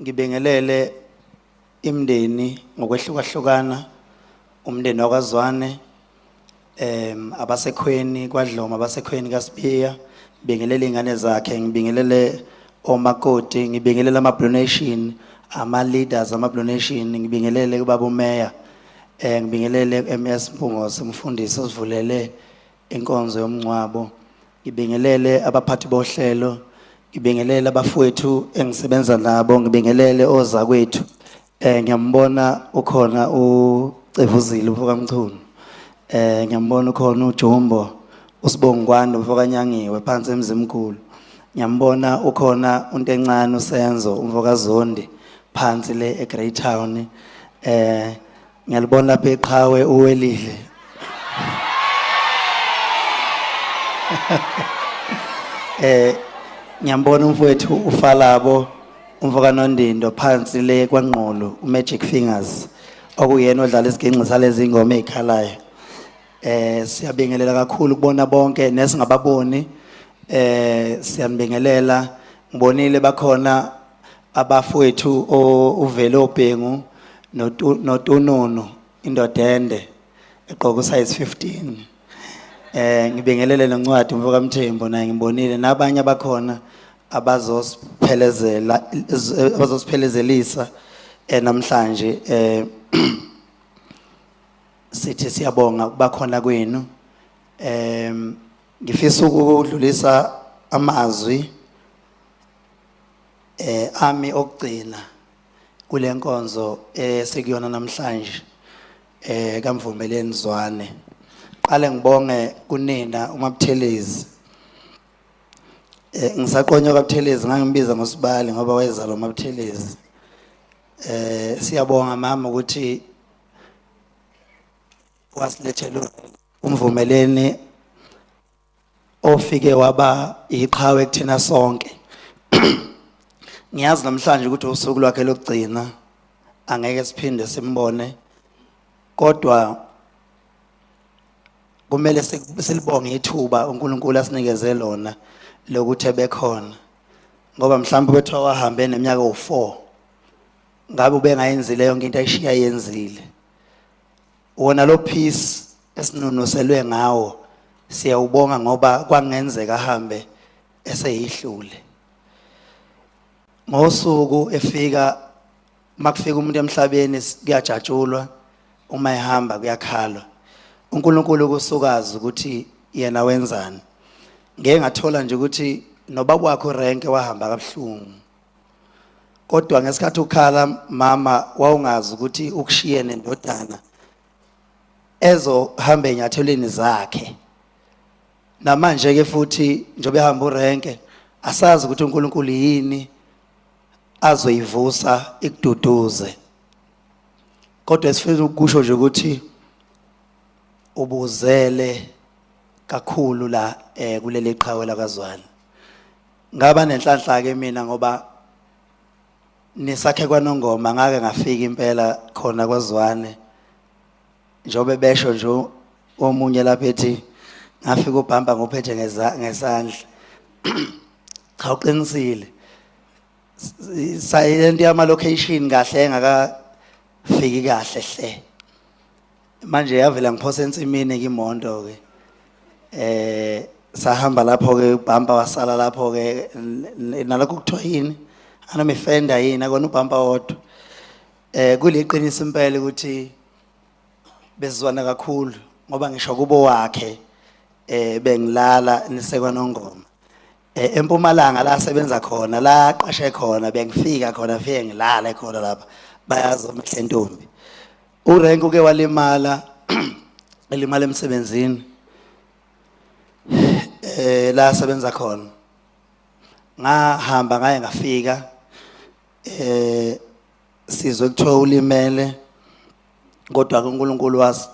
Ngibingelele imndeni ngokwehlukahlukana umndeni wakwaZwane em abasekhweni kwaDloma abasekhweni kaSibiya ngibingelele izingane zakhe ngibingelele omakoti ngibingelele ama Blue Nation ama leaders ama Blue Nation ngibingelele kubaba uMeya eh ngibingelele MS Mpungose umfundisi osivulele inkonzo yomncwabo Ngibingelele abaphathi bohlelo, ngibingelele abafowethu engisebenza nabo, ngibingelele ozakwethu. Eh ngiyambona ukhona uCevuzile ufokaMchunu. Eh ngiyambona ukhona uJumbo, uSibongwani umfokaNyangiwe phansi eMzimkhulu. Ngiyambona ukhona uNtencane uSenzo umfokaZondi phansi le eGreytown. Eh Ngiyalibona lapha eqhawe uwelile. Eh ngiyambona umfowethu ufalabo umfokanondindo phansi le kwangqolo uMagic Fingers okuyena odlala isiginci salezi ngoma ezikhalayo. Eh siyabingelela kakhulu kubona bonke nesingababoni eh siyanibingelela ngibonile bakhona abafowethu uvele obhengu notununu indoda ende egqoka usize 15 eh ngibingelele noncwadi umfoka Mthembu naye ngibonile nabanye abakhona abazosiphelezela abazosiphelezelisa eh, namhlanje eh sithi siyabonga bakhona kwenu em ngifisa ukudlulisa amazwi eh ami okugcina kulenkonzo esikuyona eh, namhlanje eh kamvumeleni zwane qale ngibonge kunina umabuthelezi eh ngisaqonywa kabuthelezi ngangimbiza ngosibali ngoba wayezalwa umabuthelezi eh siyabonga mama ukuthi wasilethela umvumeleni ofike waba iqhawe kuthina sonke ngiyazi namhlanje ukuthi usuku lwakhe lokugcina angeke siphinde simbone kodwa kumele silibonge ithuba uNkulunkulu asinikeze lona lokuthi ebekhona ngoba mhlawumbe bethiwa wahambe neminyaka u4 ngabe ubengayenzile yonke into ayishiya yenzile Wona lo peace esinunuselwe ngawo siyawubonga ngoba kwangenzeka ahambe eseyihlule ngosuku efika makufika umuntu emhlabeni kuyajatshulwa uma ehamba kuyakhalwa uNkulunkulu kusukazi ukuthi yena wenzani ngeke ngathola nje ukuthi nobaba wakho rank wahamba kabuhlungu kodwa ngesikhathi ukhala mama wawungazi ukuthi ukushiye nendodana ezohamba enyathelweni zakhe namanje ke futhi njobe ehamba urenke asazi ukuthi uNkulunkulu yini azoyivusa ikududuze kodwa esifuna ukusho nje ukuthi ubuzele kakhulu la eh kuleli qhawe lakazwana Ngaba nenhlanhla ke mina ngoba nisakhe kwanongoma ngake ngafika impela khona kwaZwane njobe besho nje omunye lapha ethi ngafika ubhamba ngophethe ngesandla cha uqinisile sayilento yama location kahle engakafiki kahle hle manje yavela ngiphosa ensimini kimonto ke eh sahamba lapho ke ubhampa wasala lapho ke nalokho kuthiwa yini anomifenda yini akona ubhampa wodwa eh kuliqiniso impela ukuthi bezizwana kakhulu ngoba ngisho kubo wakhe eh bengilala nisekwa nongoma eh empumalanga la sebenza khona la qashe khona bengifika khona fike ngilale khona lapha bayazi umhle ntombi urenk uke walimala elimala emsebenzini eh la sebenza khona ngahamba ngaye ngafika eh sizwe kuthiwa ulimele kodwa ke uNkulunkulu was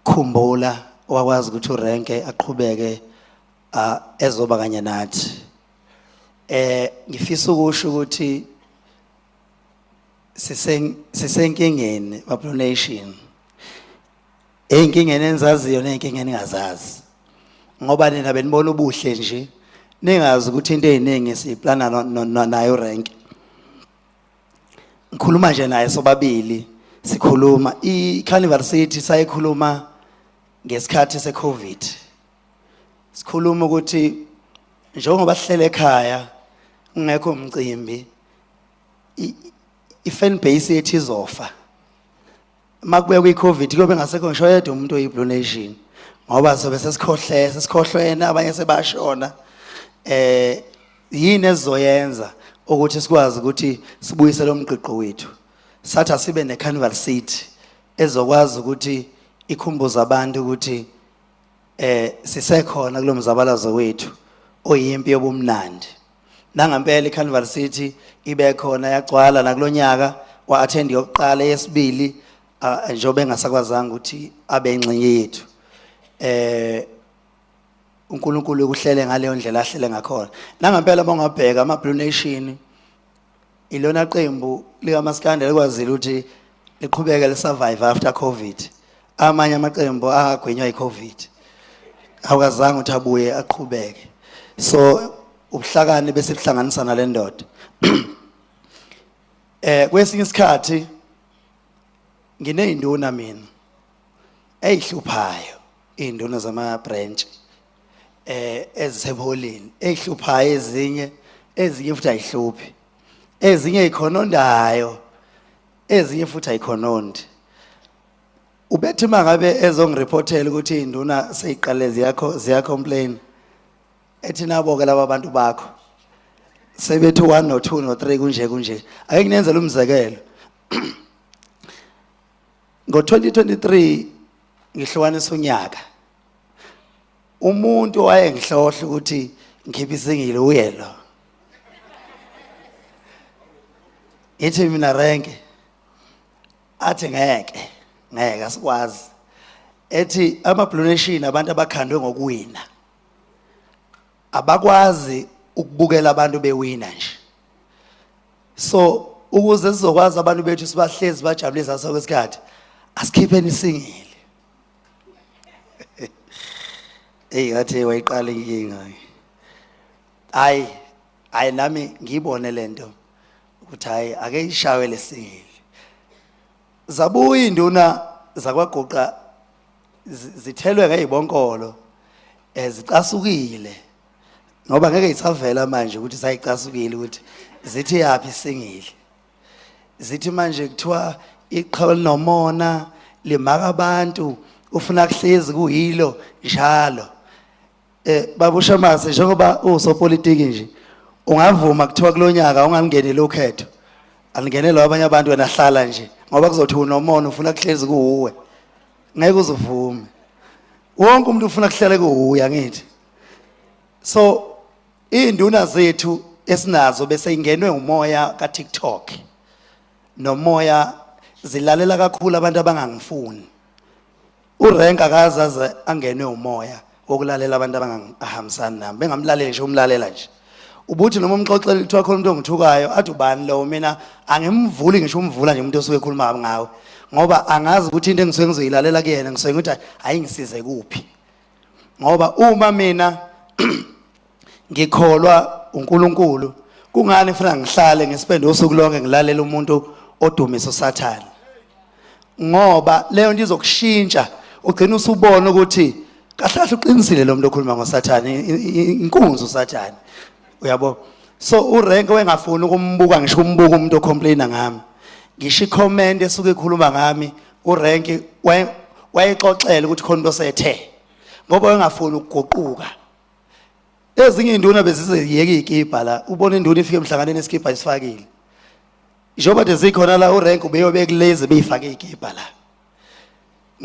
khumbula wakwazi ukuthi urenke aqhubeke ezoba kanye nathi eh ngifisa ukusho ukuthi sisenkingeni bablue nation ey'nkingeni enizaziyo ney'nkinga eningazazi ngoba nina benibona ubuhle nje ningazi ukuthi into ey'ningi siyiplana nayo rank ngikhuluma nje naye sobabili sikhuluma i-carnival city sayikhuluma ngesikhathi se-covid sikhuluma ukuthi njengoba sihlele ekhaya kungekho umcimbi i-fan base yethu izofa uma kubekwa i-covid kuyobe ngasekho ngisho yedwa umuntu oyi-blue nation ngoba sobe sesikhohle sesikhohlwene abanye sebashona eh yini ezoyenza ukuthi sikwazi ukuthi sibuyise lo mgqigqo wethu sathi asibe ne-carnival seat ezokwazi ukuthi ikhumbuze abantu ukuthi eh sisekhona kulomzabalazo wethu oyimpi yobumnandi Nangampela iCarnival City ibekhona yagcwala nakulonyaka wa attend yokuqala yesibili ah, njengoba engasakwazanga ukuthi abe ingxenye yethu. Eh uNkulunkulu ukuhlele ngaleyo ndlela ahlele ngakhona. Nangampela bongabheka ama Blue Nation Ilona qembu likaMaskanda likwazile ukuthi liqhubeke lisurvive after covid amanye amaqembu agwinywa icovid awukazange ukuthi abuye aqhubeke so ubuhlakani bese buhlanganisa nale ndoda eh kwesinye isikhathi ngineyinduna mina eyihluphayo induna zama branch eh ezisebolini ehluphayo ezinye ezinye futhi ayihluphi ezinye ikhonondayo ezinye futhi ayikhonondi ubethi mangabe ezongirepotela ukuthi induna seyiqale ziyakho ziya complain ethi nabo ke laba bantu bakho sebethi 1 no 2 no 3 kunje kunje ake nginenzele umzekelo ngo 2023 ngihlukanisa unyaka umuntu wayengihlohla ukuthi ngikhiphe isingile uye lo ngithi mina renke athi ngeke ngeke asikwazi ethi amabhluneshini abantu abakhandwe ngokuwina abakwazi ukubukela abantu bewina nje so ukuze sizokwazi abantu bethu sibahlezi bajabulisa sonke isikhathi asikhipheni isingile eyi ngathi wayiqala inkinga hayi hayi nami ngiyibone le nto ukuthi hhayi ake ishawe lesingili zabuya iy'nduna zakwaguqa zithelwe ngey'bonkolo um zicasukile ngoba ngeke yisavela manje ukuthi sayicasukile ukuthi zithi yaphi isingili zithi manje kuthiwa iqhawe linomona limaka abantu ufuna kuhlezi kuyilo njalo eh babusha mase njengoba usopolitiki nje ungavuma kuthiwa kulonyaka ungangenele ukhetho alingenelwa abanye abantu wena hlala nje ngoba kuzothi unomona ufuna kuhlezi kuwe ngeke uzivume wonke umuntu ufuna kuhlale kuwe angithi so Iy'nduna zethu esinazo bese ingenwe umoya ka-tiktok nomoya zilalela kakhulu abantu abangangifuni urenka akazaze angenwe umoya wokulalela abantu abangahambisani nami bengamlaleli nje umlalela nje ubuthi noma umxoxela kuthiwa khona umuntu ongithukayo athi ubani lowo mina angimvuli ngisho umvula nje umuntu osuke ekhuluma ngawe ngoba angazi ukuthi into engisuke ngizoyilalela kuyena ngisuke ngithi hayi ngisize kuphi ngoba uma mina ngikholwa uNkulunkulu kungani ngifuna ngihlale ngisipende usuku lonke ngilalela umuntu odumisa usathane ngoba leyo nto izokushintsha ugcina usubona ukuthi kahlahle uqinisile lo muntu okhuluma ngosathane inkunzi usathane uyabo so urank wengafuni ukumbuka ngisho umbuka umuntu ocomplaina ngami ngisho icomment esuke ikhuluma ngami urenki waye- wayexoxela ukuthi khona into sethe ngoba wayengafuni ukuguquka ezinye iy'nduna bezizeyeka iy'kibha la ubona induna ifike emhlanganeni esikibha isifakile njengoba nje zikhona la urenk ubeyobe kulezi beyifake iy'kibha la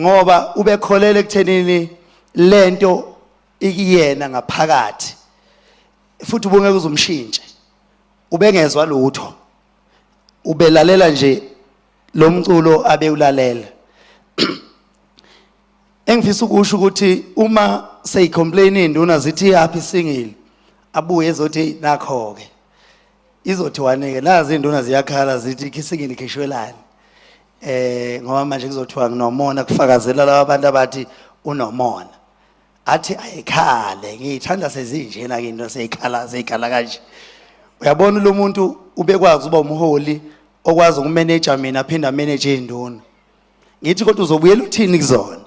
ngoba ubekholela ekuthenini lento ikuyena ngaphakathi futhi ubungeke uzumshintshe ubengezwa lutho ubelalela nje lo mculo abewulalela engifisa ukusho ukuthi uma seyicomplain induna zithi happy singile abuye ezothi nakho ke izothi wanike nazi induna ziyakhala zithi khisingini khishwelani eh ngoba manje kuzothiwa nginomona kufakazela laba bantu abathi unomona athi ayikhale ngiyithanda sezinjena ke into seyikhala seyikhala kanje uyabona lo muntu ubekwazi uba umholi okwazi ukumeneja mina aphinde ameneje induna ngithi kodwa uzobuyela uthini kuzona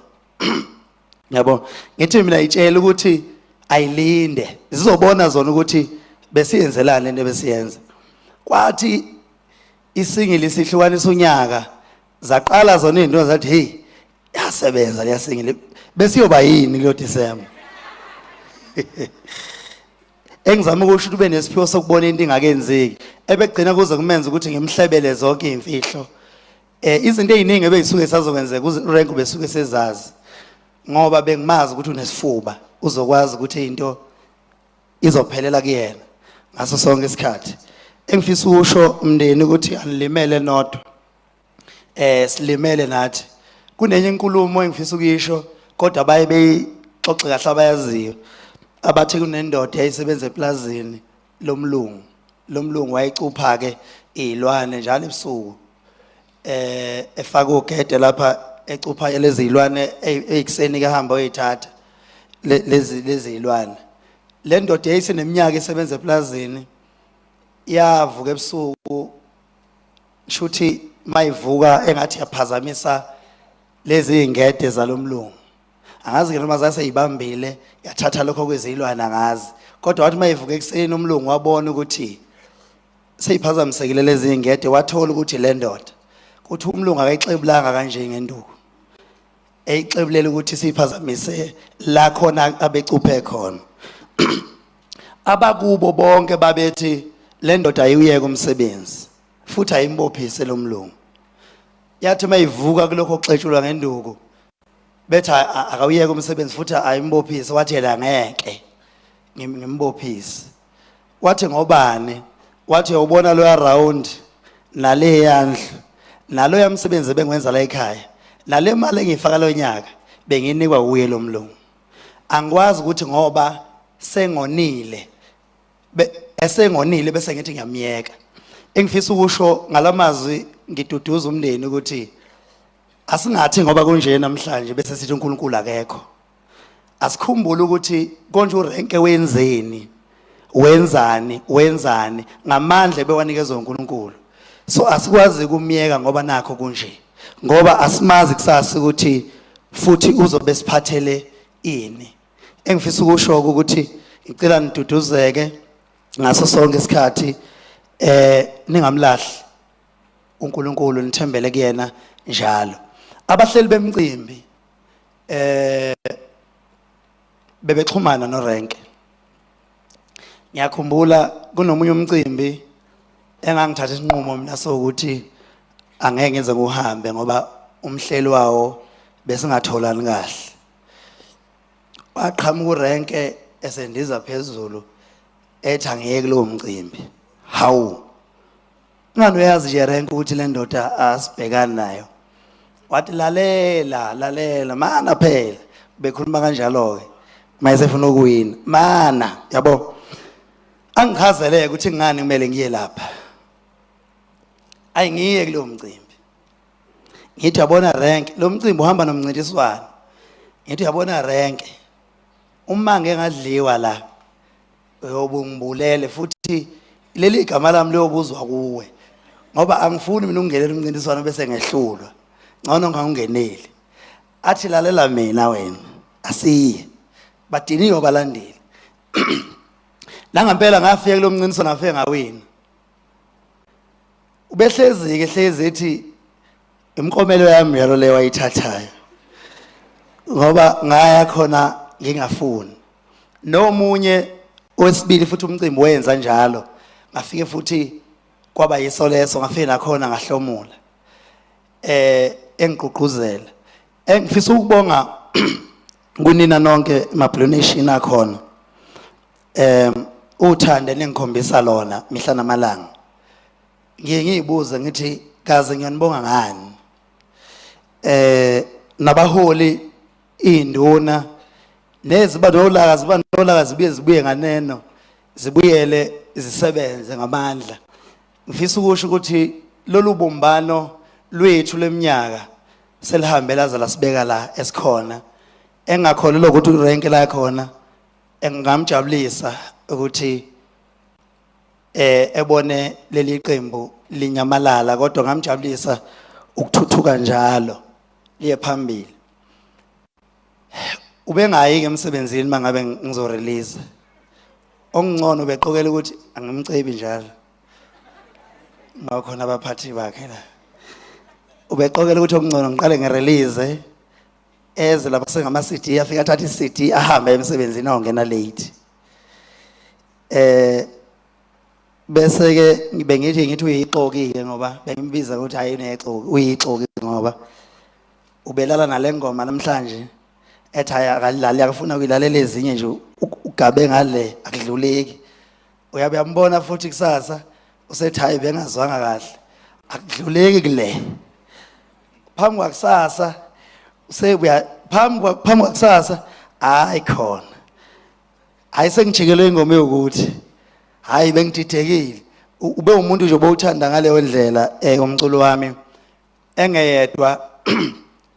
yabo ngithi mina itshela ukuthi ayilinde zizobona zona ukuthi besiyenzelani lento besiyenza kwathi isingili sihlukanisa unyaka zaqala zona izinto zathi hey yasebenza liyasingile besiyoba yini kulo December engizama ukusho ukuthi ube nesiphiwo sokubona into ingakenzeki ebegcina kuze kumenza ukuthi ngimhlebele zonke izimfihlo eh izinto eziningi ebeyisuke sazokwenzeka urank besuke sezazi ngoba bengimazi ukuthi unesifuba uzokwazi ukuthi into izophelela kuyena ngaso sonke isikhathi engifisa ukusho umndeni ukuthi anilimele nodwa eh silimele nathi kunenye inkulumo engifisa ukuyisho kodwa baye beyixoxe kahle abayaziyo abathi kunendoda eyayisebenza eplazini lomlungu lomlungu wayecupha ke izilwane njalo ebusuku eh efaka ugede lapha ecupha lezi zilwane ezikuseni kahamba oyithatha lezi lezi zilwane le ndoda yayise neminyaka esebenza eplazini yavuka ebusuku shuthi mayivuka engathi yaphazamisa lezi ingede zalomlungu angazi ke noma zase ibambile yathatha lokho kwezilwana ngazi kodwa wathi mayivuka ekuseni umlungu wabona ukuthi seyiphazamisekile lezi ingede wathola ukuthi le ndoda kuthi umlungu akayixebulanga kanje ngenduku eyixebulela ukuthi siyiphazamise la khona abecuphe khona abakubo bonke babethi le ndoda ayiwuyeke umsebenzi futhi ayimbophise lo mlungu yathi uma ivuka kulokho kuxetshulwa ngenduku bethi a- a- akawuyeke umsebenzi futhi ayimbophise wathi yena ngeke ngim- ngimbophise wathi ngobani wathi uyawubona loya round naleya ndlu naloya msebenzi ebengwenza la ekhaya nale mali engiyifaka lo nyaka benginikwa wuye lo mlungu angikwazi ukuthi ngoba sengonile esengonile bese ngithi ngiyamyeka engifisa ukusho ngalamazwi ngiduduza umndeni ukuthi asingathi ngoba kunje namhlanje bese sithi uNkulunkulu akekho asikhumbule ukuthi konje urenke wenzeni wenzani wenzani ngamandla bewanikezwe uNkulunkulu so asikwazi kumyeka ngoba nakho kunje ngoba asimazi kusasa ukuthi futhi uzobe siphathele ini engifisa ukusho ukuthi ngicela niduduzeke ngaso sonke isikhathi eh ningamlahli uNkulunkulu nithembele kuyena njalo abahleli bemcimbi eh bebexhumana norenke ngiyakhumbula kunomunye umcimbi engangithatha isinqumo mina sokuthi angeke ngize ngihambe ngoba umhleli wawo besingatholani kahle waqhamuka urenke esendiza phezulu ethi angiyeke kulowo mcimbi hawu ungani uyazi nje renke ukuthi le ndoda asibhekani nayo wathi lalela lalela mana phela bekhuluma kanjalo-ke mayesefuna ukuwina mana yabo angichazeleke ukuthi ngani kumele ngiye lapha ayi ngiye kulowo mcimbi ngithi yabona renke lo mcimbi uhamba nomncintiswano ngithi yabona renke uma ngeke ngadliwa la uyobungibulele futhi leli igama lami liyobuzwa kuwe ngoba angifuni mina ukungenela umncintiswano bese ngehlulwa ngcono ngangingeneli athi lalela mina wena asiye badiniwe balandeli nangampela ngafika kulo mncintiswano ngafike ngawina ubehlezi-ke hlezi ethi imikomelo yami yalo leyo wayithathayo ngoba ngaya khona ngingafuni nomunye owesibili futhi umcimbi wenza njalo ngafike futhi kwaba yiso leso ngafike nakhona ngahlomula eh engigqugquzela engifisa ukubonga kunina nonke mablonation akhona um uthando eningikhombisa lona mihla namalanga ngiye ngiyibuze ngithi kaze ngiyanibonga ngani eh nabaholi induna neziba nolaka ziba nolaka zibuye zibuye nganeno zibuyele zisebenze ngamandla ngifisa ukusho ukuthi lolu bumbano lwethu leminyaka selihambela zala sibeka la esikhona engakholelwa ukuthi urenke la khona engingamjabulisa ukuthi eh ebone leli qembu linyamalala kodwa ngamjabulisa ukuthuthuka njalo liye phambili ubengayi ke emsebenzini mangabe ngizo release ongcono beqokela ukuthi angimcebi njalo ngakhona abaphathi bakhe la ubeqokela ukuthi okungcono ngiqale ngerelease eze lapha sengama CD afika athatha iCD ahambe emsebenzini awungena late eh bese ke ngibe ngithi ngithi uyixoki ke ngoba bengimbiza ukuthi hayi unexoki uyixoki ngoba ubelala nalengoma namhlanje ethi hayi akalali akufuna ukuyilalela ezinye nje ugabe ngale akudluleki uyabe yambona futhi kusasa usethi hayi bengazwanga kahle akudluleki kule phambi kwakusasa sekuya phambi kwa- phambi kwakusasa hayi khona hayi sengijikelwe ingoma yokuthi hayi bengididekile U- ube umuntu nje obowuthanda ngaleyo ndlela eh umculo wami engeyedwa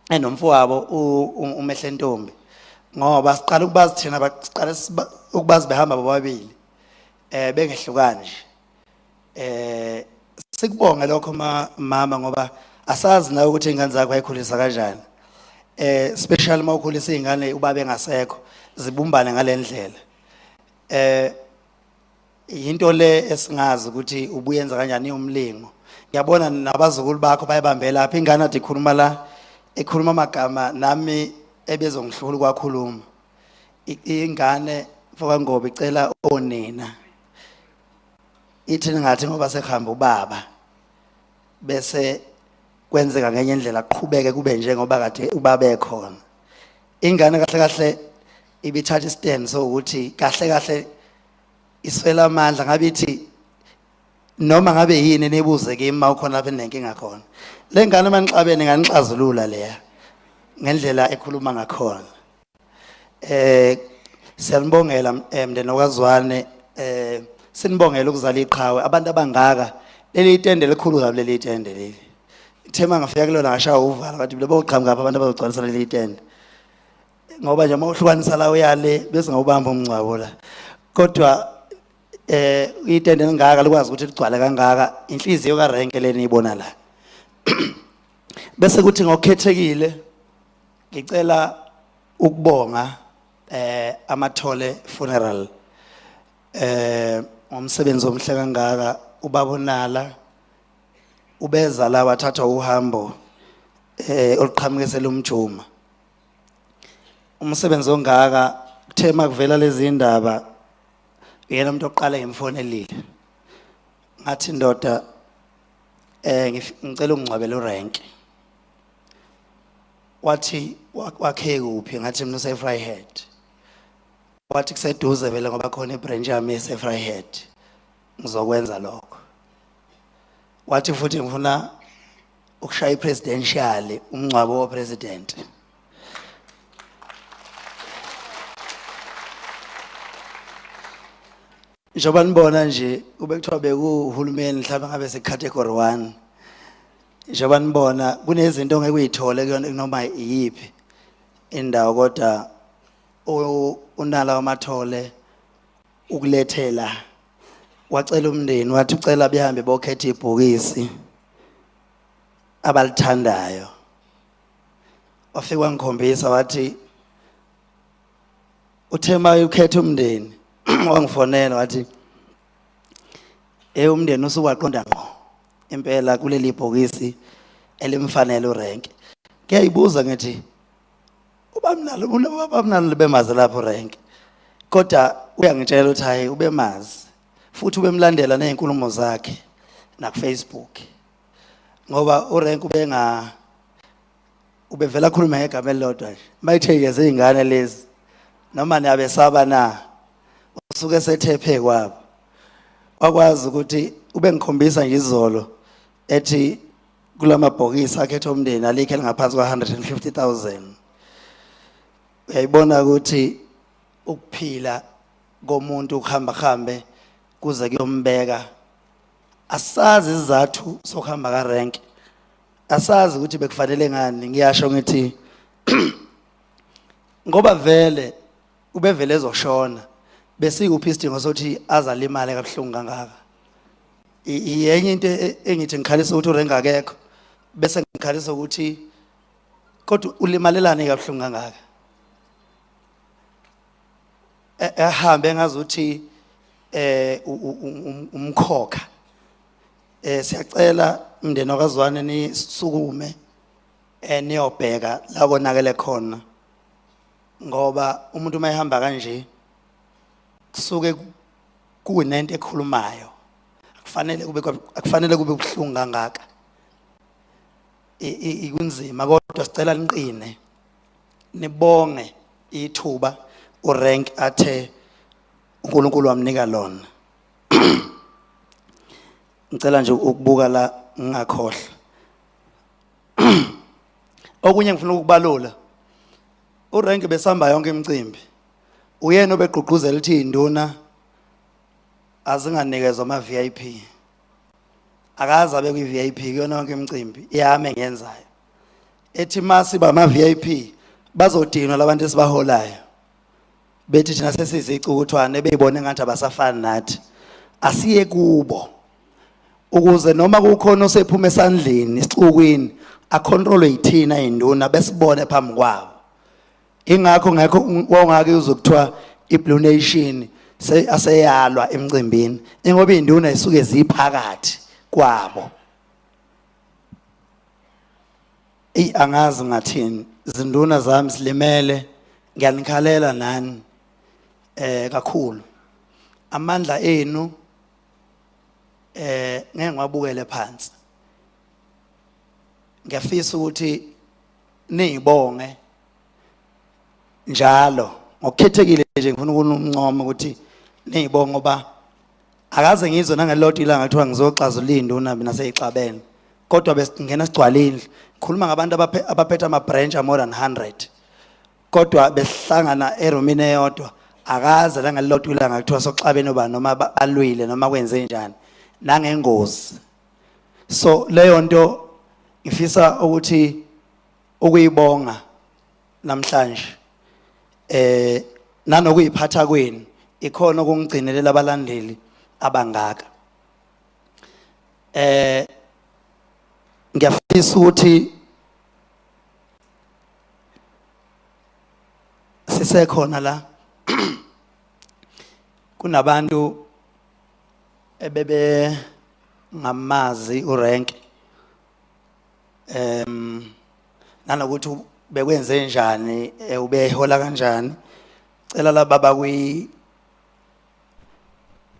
enomfowabo u- u- umehle ntombi ngoba siqala ukubazi thina ba- siqala siba- ukubazi behamba bobabili eh bengehlukani nje Eh sikubonge lokho mama ngoba asazi nawe ukuthi ingane zakho ayikhulisa kanjani. Eh special mawukhulisa izingane ubabe ngasekho zibumbane ngalendlela. Eh into le esingazi ukuthi ubuyenza kanjani umlingo. Ngiyabona nabazukulu bakho bayabambela apha ingane athi ikhuluma la ekhuluma amagama nami ebezongihlula kwakhuluma. Ingane mfoka Ngobe icela onina. ithi ngathi ngoba sekuhamba ubaba bese kwenzeka ngenye indlela qhubeke kube njengoba kade ubaba ekhona ingane kahle kahle ibithatha istand so ukuthi kahle kahle iswela amandla ngabe ithi noma ngabe yini nibuze kimi uma ukhona lapha enenkinga khona le ngane uma nixabene nganixazulula leya ngendlela ekhuluma ngakhona Eh siyanibongela eh, mndeni wakwaZwane eh sinibongela ukuzala iqhawe abantu abangaka leli itende elikhulu kabi leli itende leli ithema ngafika kulona ngashawa uvala bathi lebo uqhamuka abantu abazogcwalisa leli itende ngoba nje uma uhlukanisa la uyale bese ngawubamba umngcwabo la kodwa eh itende lingaka likwazi ukuthi ligcwale kangaka inhliziyo karenke leni ibona la bese kuthi ngokhethekile Ngicela ukubonga eh amathole funeral eh ngomsebenzi omhle kangaka ubabonala ubeza la wathatha uhambo eh oluqhamukisela umjuma umsebenzi ongaka kuthe makuvela lezi indaba uyena umuntu oqala ngimfonelile ngathi ndoda eh ngif- ngicela ungcwabele urank wathi wakhe kuphi ngathi mina usefryhead wathi kuseduze vele ngoba khona ibranch yami esefryhead ngizokwenza lokho wathi futhi ngifuna ukushaya ipresidential umngcwabo wopresident njengoba nibona nje kube kuthiwa bekuwuhulumeni mhlawumbe ngabe secategory one njengoba nibona kunezinto ongeke uyithole kuyona kunoma iyiphi indawo kodwa u- unala wamathole ukulethela wacela umndeni wathi ucela behambe bokhetha ibhokisi abalithandayo wafika wangikhombisa wathi uthe uma ukhetha umndeni wangifonela wathi eh umndeni usukwaqonda ngqo impela kuleli bhokisi elimfanele urank ngiyayibuza ngithi ubamnalo ubamnalo libemazi lapho rank kodwa uyangitshela ukuthi hayi ubemazi futhi ubemlandela nezinkulumo zakhe na Facebook ngoba urank ubenga ubevela akhuluma ngegama elilodwa nje mayithe yeze izingane lezi noma niyabesaba na usuke sethephe kwabo wakwazi ukuthi ubengikhombisa nje izolo ethi kulamabhokisi akhethe umndeni alikhe lingaphansi kwa 150000 uyayibona ukuthi ukuphila komuntu ukuhamba hambe kuze kuyombeka asazi izathu sokuhamba ka rank asazi ukuthi bekufanele ngani ngiyasho ngithi ngoba vele ubevele ezoshona besikuphi isidingo sokuthi azalimale kabuhlungu kangaka yenye into e, engithi ngikhalisa ukuthi urenga akekho bese ngikhalisa ukuthi kodwa ulimalelane kabuhlungu kangaka e, ehambe ngazi ukuthi eh umkhokha Eh siyacela umndeni wakazwane nisukume eh niyobheka la konakele khona. Ngoba umuntu uma ehamba kanje kusuke ku- kunento ekhulumayo. Akufanele kube kwa- akufanele kube buhlungu kangaka. I- i- Ikunzima kodwa sicela niqine. Nibonge ithuba urank athe uNkulunkulu wamnika lona. ngicela nje ukubuka la ngingakhohlwa okunye ngifuna ukubalula urank besihamba yonke imicimbi uyena obegqugquzela ukuthi induna azinganikezwa ama VIP akaze abe kwi VIP kuyona yonke imicimbi yami engenzayo ethi masiba ama VIP bazodinwa labantu esibaholayo bethi thina sesizicukuthwane beyibone ngathi abasafani nathi asiye kubo ukuze noma kukhona osephuma esandleni isixukwini acontrolwe yithina induna besibone phambi kwabo ingakho ngekho wongake uzokuthiwa iblue nation aseyalwa emcimbini ingoba induna isuke ziphakathi kwabo Eyi angazi ngathini zinduna zami zilimele ngiyanikhalela nani eh kakhulu amandla enu eh ngeke ngwabukele phansi ngiyafisa ukuthi ningibonge njalo ngokukhethekile nje ngifuna ukunumncoma ukuthi ningibonge ngoba akaze ngizwe nangelodwa ilanga kuthiwa ngizoxazula iy'nduna mina seyixabene kodwa besingena sigcwale indlu ngikhuluma ngabantu abaphe- abaphethe ama-branch a-more than 100 kodwa besihlangana erumini eyodwa akaze langelilodwa ilanga kuthiwa soxabene uba noma ba- balwile noma kwenze njani nangengozi so leyo nto ngifisa ukuthi ukuyibonga namhlanje eh nanokuyiphatha kwenu ikhona okungigcinelela abalandeli abangaka eh ngiyafisa ukuthi sisekhona la kunabantu ebebe ngamazi urank em nanokuthi bekwenze njani eh, ubehola kanjani cela laba bakwi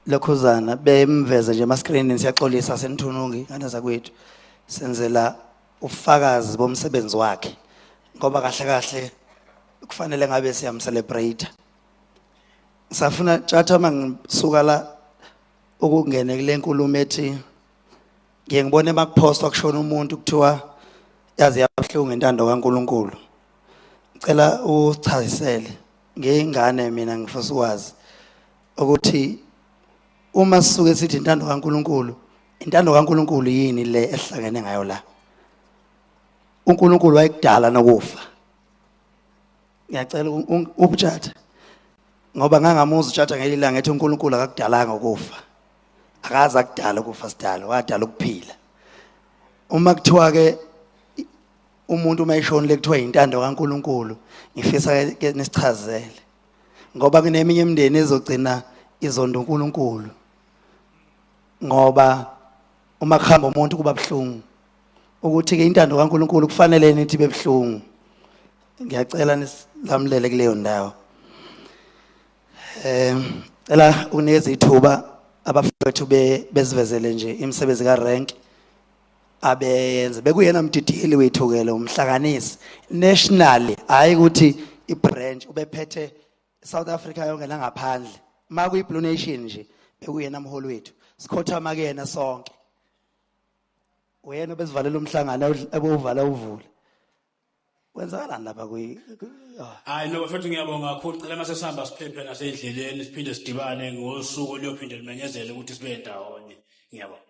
lokhuzana bemveze nje ama screen siyaxolisa senithunungi ngane zakwethu senzela ufakazi bomsebenzi wakhe ngoba kahle kahle kufanele ngabe siyam celebrate safuna tshatha mangisuka la ukungene kule nkulumo ethi ngiye ngibone makuphostwa kushona umuntu kuthiwa yaze yabuhlungu intando kaNkuluNkulu ngicela uchazisele ngeyingane mina ngifisa ukwazi ukuthi uma sisuke sithi intando kaNkuluNkulu intando kaNkuluNkulu yini le ehlangene ngayo la uNkulunkulu wayekudala nokufa ngiyacela ubutshata ngoba ngangamuza utshata ngelilanga ethi uNkulunkulu akakudalanga ukufa akaze akudala ukufa sidala wadala ukuphila uma kuthiwa ke umuntu uma eshonile kuthiwa yintando kaNkuluNkulu ngifisa ke nisichazele ngoba kuneminye imindeni ezogcina izonda uNkuluNkulu ngoba uma kuhamba umuntu kuba buhlungu ukuthi ke intando kaNkuluNkulu kufanele nithi bebuhlungu ngiyacela nisilamulele kuleyo ndawo Eh cela ukunikeza ithuba abafethu be- bezivezele nje imisebenzi ka rank abeyenze bekuyena mdidiyeli wethu ke lo umhlanganisi nationally hayi ukuthi i branch ubephethe South Africa yonke nangaphandle maku i Blue Nation nje bekuyena mholi wethu sikhothama kuyena sonke uyena obesivalela umhlangano ewudl- ebewuvala uvule kwenzakalani lapha kwi ah. hayi no bafethu ngiyabonga kakhulu cela mase sihamba siphephe nasendleleni siphinde sidibane ngosuku oluyophinde limenyezele ukuthi sibe ndawonye ngiyabonga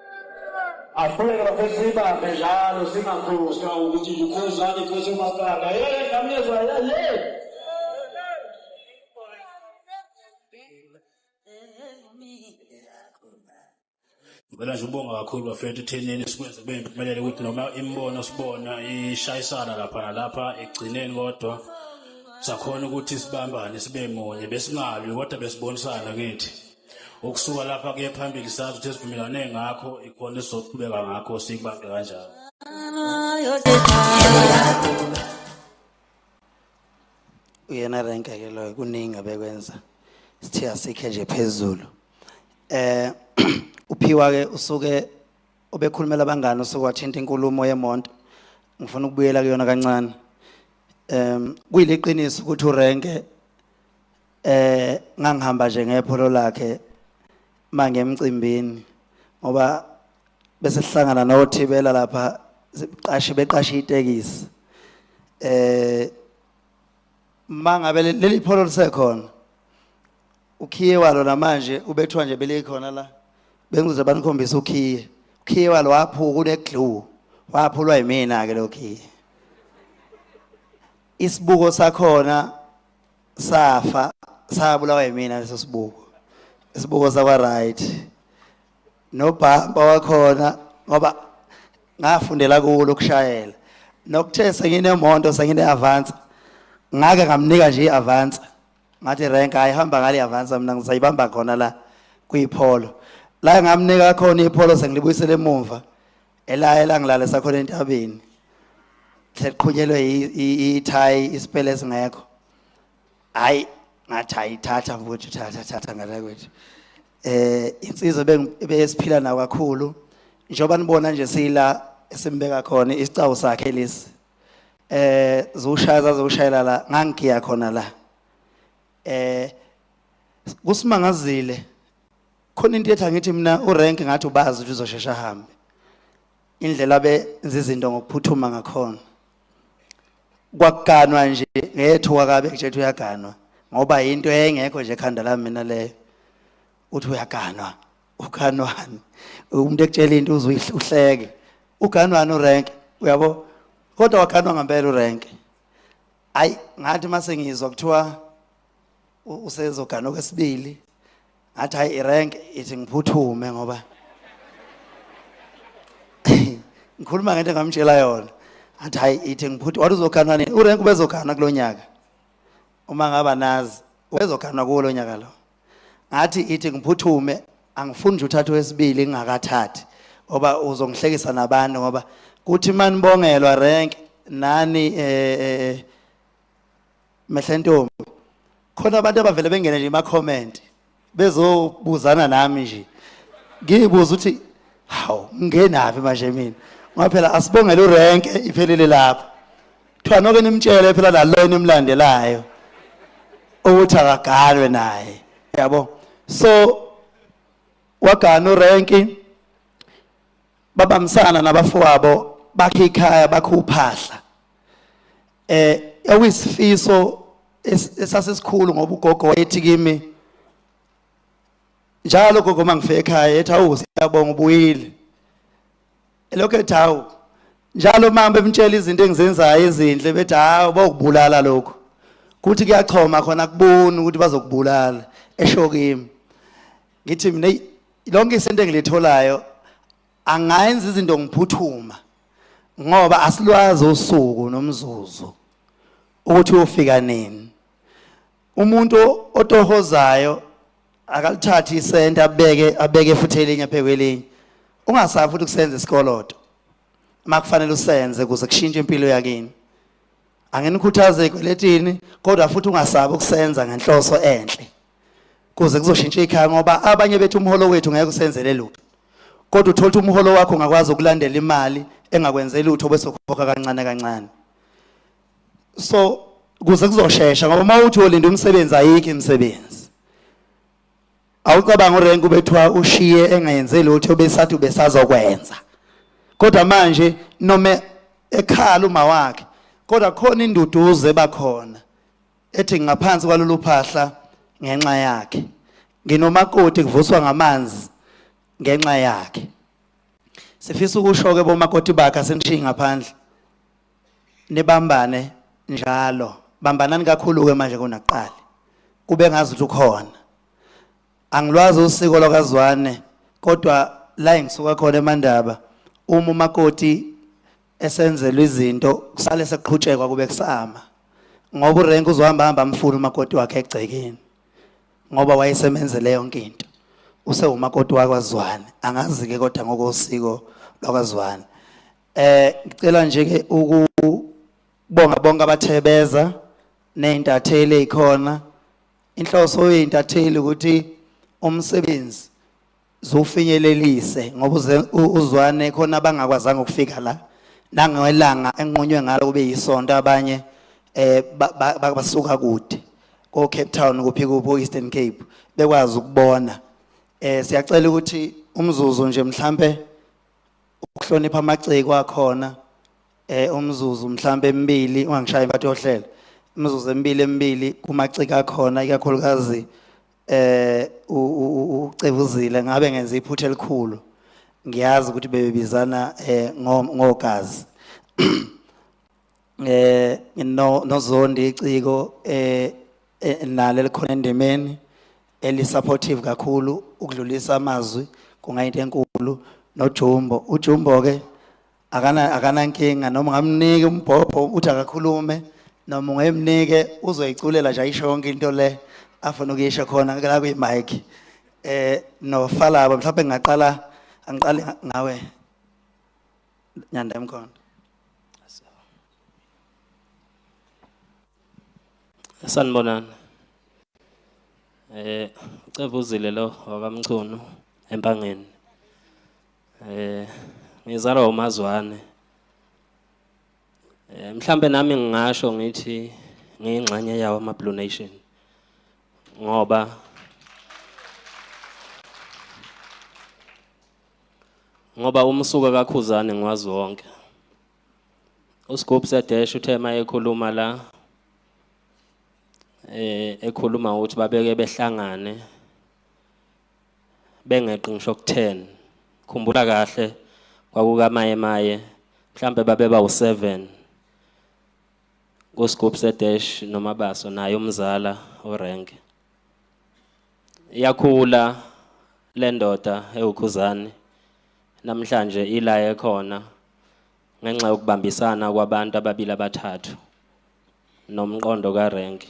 Asiqhubeke bafethu siyibambe njalo singakhohlwa ukuthi kukhuzani cishe umasipala. Yeke ngamyezwa yale. Ngicela nje ubonga kakhulu bafethu ethenini sikwenze kube impumelelo ukuthi noma imibono sibona ishayisana lapha nalapha ekugcineni kodwa sakhona ukuthi sibambane sibe munye besingalwi kodwa besibonisana kithi. Ukusuka lapha kuye phambili sazi ukuthi esivumelane ngakho ikhona esizoqhubeka ngakho siyibambe kanjalo. Uyena renke ke loyo kuningi abekwenza. Sithe asikhe nje phezulu. Eh uphiwa ke usuke obekhulumela abangani usuke wathinta inkulumo yemonto. Ngifuna ukubuyela kuyona kancane. Em kuyileqiniso ukuthi urenke eh ngangihamba nje ngepholo lakhe mange emcimbini ngoba bese sihlangana nothibela lapha siqashe beqashe itekisi eh mangabe leli pholo lisekhona ukhiye walo namanje ubethwa nje belikhona la bengize banikhombisa ukhiye ukhiye walo waphuka uneglue waphulwa yimina ke lokhiye isibuko sakhona safa sabulawa yimina leso sibuko isibuko sakwa right nobhampa wakhona ngoba ngafundela kulo ukushayela nokuthe senginemonto sengine-avance ngake ngamnika nje i-avance ngathi renk ayihamba ngale i-avance mina ngisayibamba khona la kuyipholo la ngamnika khona ipholo sengilibuyisele emumva ela ela ngilale sakhona entabeni hleqhunyelwe ithayi isipele esingekho hayi ngathi ayithatha mfowethu thatha thatha ngala kwethu eh insizwa besiphila nayo kakhulu njengoba nibona nje sila esimbeka khona isicawu sakhe lesi eh zoshaya zazoshayela la ngangigiya khona la eh kusimangazile khona into ethi angithi mina urank ngathi ubazi ukuthi uzoshesha ahambe indlela benza izinto ngokuphuthuma ngakhona kwakuganwa nje ngethuka kabe kujethi uyaganwa ngoba yinto engekho nje ekhanda lami mina leyo uthi uyaganwa uganwani umuntu ekutshela into uze uhleke uganwani urank uyabo kodwa waganwa ngempela urank hayi ngathi mase ngizwa kuthiwa usezoganwa kwesibili ngathi hayi irank ithi ngiphuthume ngoba ngikhuluma ngento engamtshela yona athi hayi ithi ngiphuthu wathi uzoganwa nini urank ubezoganwa kulo nyaka uma ngaba nazi ubezoganwa kuwo lo nyaka lo ngathi ithi ngiphuthume angifuni nje uthathe wesibili ngingakathathi ngoba uzongihlekisa nabantu ngoba kuthi manibongelwa rank nani eh, eh, eh mehle ntombi khona abantu abavele bengene nje ma comment bezobuzana nami nje ngibuza ukuthi hawu ngenaphi manje mina ngoba phela asibongele urenke iphelile lapha kuthiwa noke nimtshele phela nalo enimlandelayo ukuthi akaganwe naye yabo so wagana urenki babambisana nabafowabo bakhe ikhaya bakhe uphahla eh awisifiso esasesikhulu ngoba ugogo wayethi kimi njalo gogo mangifika ekhaya ethi awu siyabonga ubuyile elokhu ethi awu njalo mama bemtshela izinto engizenzayo ezinhle bethi hawu bawukubulala lokho kuthi kuyachoma khona kubona ukuthi bazokubulala esho kimi ngithi mina lonke isento engilitholayo angayenza izinto ngiphuthuma ngoba asilwazi usuku nomzuzu ukuthi ufika nini umuntu otohozayo akalithathi isenta abeke abeke futhi elinye phekwelinye ungasafi ukuthi kusenza isikoloto makufanele usenze kuze kushintshe impilo yakini angenikhuthaze ekweletini kodwa futhi ungasabi ukusenza ngenhloso enhle kuze kuzoshintsha ikhaya ngoba abanye bethu umholo wethu ngeke usenzele lutho kodwa uthola ukuthi umholo wakho ungakwazi ukulandela imali engakwenzeli lutho bese ukhokha kancane kancane so kuze kuzoshesha ngoba uma uthi uyolinda umsebenzi ayikho imisebenzi awucabanga urenk ubethiwa ushiye engayenze lutho besathi ubesazokwenza kodwa manje noma ekhala uma wakhe kodwa khona induduzo ebakhona ethi ngaphansi kwalolu phahla ngenxa yakhe nginomakoti kuvuswa ngamanzi ngenxa yakhe sifisa ukusho-ke bomakoti bakhe asinishiyi ngaphandle nibambane njalo bambanani kakhulu-ke manje kunakuqala kube ngazi ukuthi ukhona angilwazi usiko lwakazwane kodwa la engisuka khona emandaba uma umakoti esenzelwa izinto kusale sekuqhutshekwa kube kusama ngoba urenk uzohamba hamba amfuna umakoti wakhe egcekeni ngoba wayesemenzele yonke into usewumakoti wakwaZwane angazi ke kodwa ngokosiko lwakwaZwane eh ngicela nje ke ukubonga bonke abathebeza nezintatheli ezikhona inhloso yezintatheli ukuthi umsebenzi zufinyelelise ngoba uze- u- uzwane khona abangakwazanga ukufika la nangelanga enqunywe ngalo kube yisonto abanye eh ba- ba- ba- basuka kude ko Cape Town kuphi kubo Eastern Cape bekwazi ukubona eh siyacela ukuthi umzuzu nje mhlambe ukuhlonipha amaciko akhona eh umzuzu mhlambe emibili ungangishayi bathi yohlela imizuzu emibili emibili kumaciko akhona ikakhulukazi eh ucebuzile ngabe ngenza iphutha elikhulu ngiyazi ukuthi bebebizana eh ngogazi eh no nozondi iciko eh, eh nalo likhona endimeni eli supportive kakhulu ukudlulisa amazwi kungayinto enkulu nojumbo ujumbo ke akana akanankinga noma ngamnike umbhobho uthi akakhulume noma ungemnike uzoyiculela nje ayisho yonke into le afuna ukuyisho khona la kwi mic eh no falaba mhlawumbe ngingaqala angiqale ngawe nyanda emkhonto sanibonani eh ucebuzile lo wakamchunu empangeni Eh ngizalwa uMazwane. Eh mhlambe nami ngingasho ngithi ngiyingxenye yawo ama Blue Nation. Ngoba ngoba umsuka kakhuzane ngiwazi wonke usigubhu sedesh uthe uma ekhuluma la eh ekhuluma ukuthi babeke behlangane bengeqi ngisho ku-10 khumbula kahle kwakukamaye maye mhlambe babeba u-7 kusigubhu sedash nomabaso naye umzala orenke yakhula le ndoda ewukhuzane namhlanje ila ekhona ngenxa yokubambisana kwabantu ababili abathathu nomqondo karenke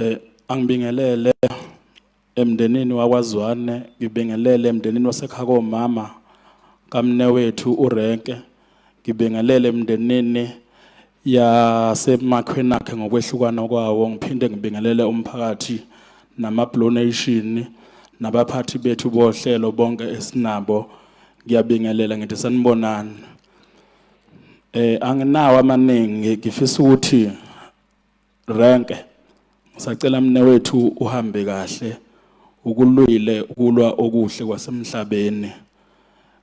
Eh angibingelele emndenini wakwaZwane ngibingelele emndenini wasekhaya komama kamnewethu uRenke ngibingelele emndenini yasemakhweni akhe ngokwehlukana kwawo ngiphinde ngibingelele umphakathi namablue nation nabaphathi bethu bohlelo bonke esinabo ngiyabingelela ngithi sanibonani Eh anginawo amaningi ngifisa ukuthi renke sacela mne wethu uhambe kahle ukulwile ukulwa okuhle kwasemhlabeni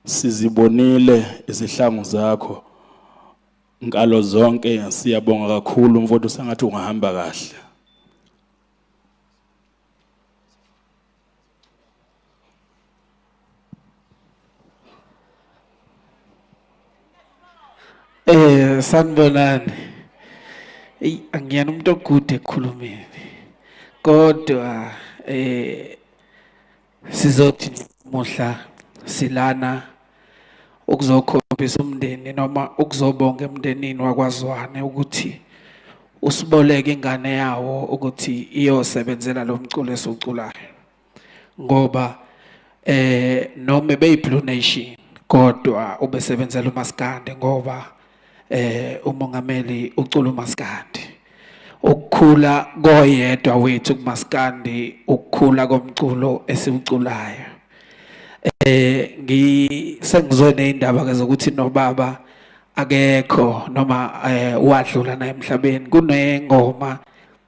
sizibonile izihlangu zakho nkalo zonke siyabonga kakhulu mfowethu sengathi ungahamba kahle Eh sanibonani. Ey angiyena umuntu ogude ekukhulumeni. Kodwa eh sizothi muhla silana ukuzokhombisa umndeni noma ukuzobonga emndenini wakwaZwane ukuthi usiboleke ingane yawo ukuthi iyosebenzela lo mculo esiwuculayo ngoba eh noma beyi-blue nation kodwa ubesebenzela umaskandi ngoba eh umongameli ucula umaskandi ukukhula koyedwa wethu kumaskandi ukukhula komculo esiwuculayo eh ngisengizwe neindaba ke zokuthi nobaba akekho noma eh, wadlula naye emhlabeni kunengoma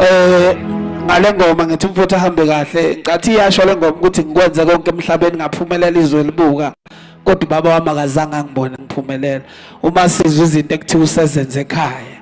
eh ngale ngoma ngithi umfowethu ahambe kahle ngathi iyasho le ngoma ukuthi ngikwenze konke emhlabeni ngaphumelela izwe libuka kodwa ubaba wami akazange angibone ngiphumelela uma sizwa izinto ekuthiwa usezenze ekhaya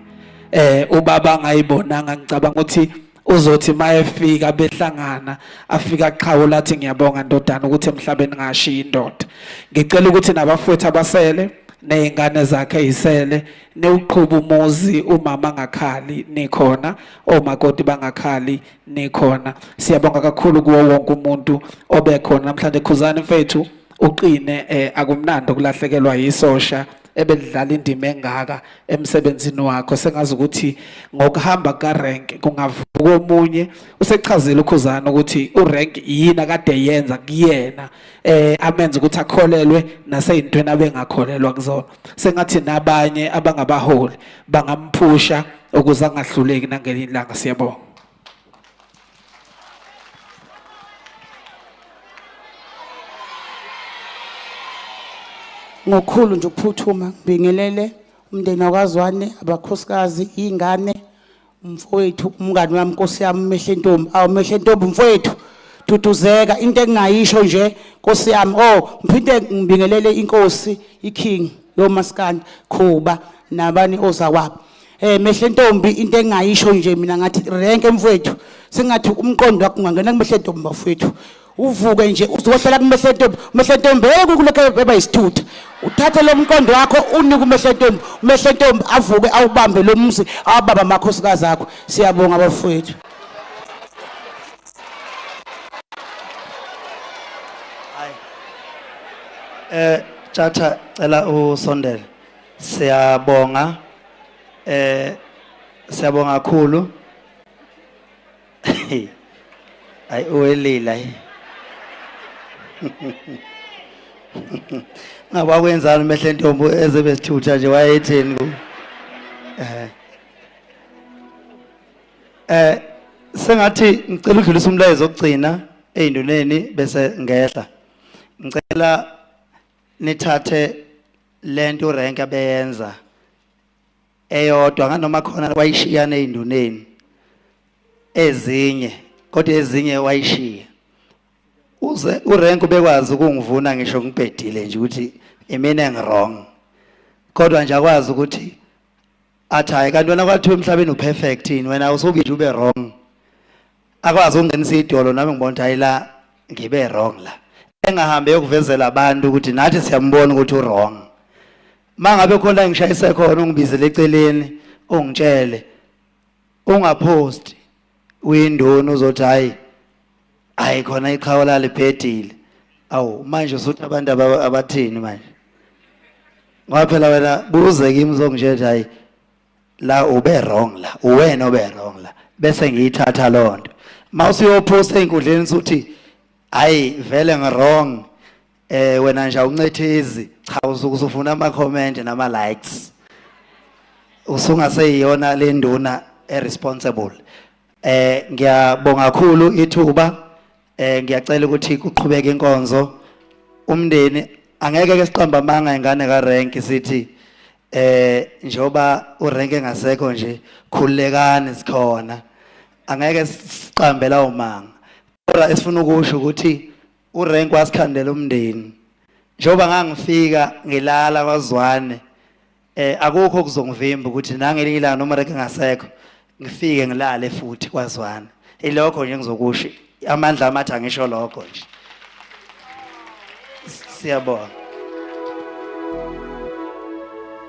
eh ubaba angayibonanga ngicabanga ukuthi uzothi mayefika behlangana afika aqhawula athi ngiyabonga ndodana ukuthi emhlabeni ngashiya indoda ngicela ukuthi nabafowethu abasele nezingane zakhe izisele newuqhuba umuzi umama angakhali nikhona omakoti bangakhali nikhona siyabonga kakhulu kuwo wonke umuntu obekhona namhlanje khuzani mfethu uqine eh, akumnandi ukulahlekelwa yisosha ebelidlala indima engaka emsebenzini wakho sengazi ukuthi ngokuhamba kukarank kungavuka omunye usechazile ukhuzana ukuthi urank yini akade yenza kuyena eh amenza ukuthi akholelwe naseyintweni abengakholelwa kuzona sengathi nabanye abangabaholi bangamphusha ukuze angahluleki nangelinye ilanga siyabonga ngokhulu nje ukuphuthuma ngibingelele umndeni wakazwane abakhosikazi ingane mfowethu umngani wami nkosi yami mehle ntombi awu mehle ntombi mfowethu duduzeka into engingayisho nje nkosi yami oh ngiphinde ngibingelele inkosi iking lo maskandi khuba nabani ozakwabo eh mehle ntombi into engingayisho nje mina ngathi renke mfowethu sengathi umqondo wakho ungangena kumehle ntombi bafowethu uvuke nje uzohlala kumehlentombi umehlentombi yeke ukulokhu eba yisithutha uthathe lo mqondo wakho unike umehlentombi umehlentombi avuke awubambe lo mzi awababa amakhosikazi akho siyabonga abafowethu eh tjatha cela usondele siyabonga eh siyabonga kakhulu ayi uwelile ayi ngaba kwenzani umehle ntombo ezebesithutha nje wayetheni ku eh eh sengathi ngicela udlulisa umlayezo ogcina ezinduneni bese ngehla ngicela nithathe lento rank abeyenza eyodwa nganoma khona wayishiyana ezinduneni ezinye kodwa ezinye wayishiya uze urenk ubekwazi ukungivuna ngisho ngibhedile nje ukuthi imina ngirong kodwa nje akwazi ukuthi athi hayi kanti wena kwathiwa emhlabeni uperfect yini wena usukide ube wrong akwazi ukungenisa idolo nami ngibona ukuthi hayi la ngibe wrong la engahambe yokuvezela abantu ukuthi nathi siyambona ukuthi uwrong mangabe khona engishayise khona ungibizele eceleni ungitshele ungapost uyindoni uzothi hayi hayi khona iqhawe lalibhedile awu manje usuthi abantu abathini manje ngoba phela wena buze kimi uzongitshela hayi la ube wrong la uwena obe wrong la bese ngiyithatha loo nto uma usuyophosta ey'nkundleni usuthi hayi vele ngi-wrong Eh wena nje awuncethezi cha usuke usufuna ama comment nama likes. Usungaseyiyona le nduna e responsible. Eh ngiyabonga kakhulu ithuba eh ngiyacela ukuthi kuqhubeke inkonzo umndeni angeke ke siqamba amanga ingane ka rank sithi eh njoba urank engasekho nje khulekani sikhona angeke siqambela umanga kodwa esifuna ukusho ukuthi urenk wasikhandela umndeni njengoba ngangifika ngilala kwazwane eh akukho kuzongivimba ukuthi nangelinye ilanga noma reke ngasekho ngifike ngilale futhi kwazwane ilokho nje ngizokusho amandla amathi angisho lokho nje siyabonga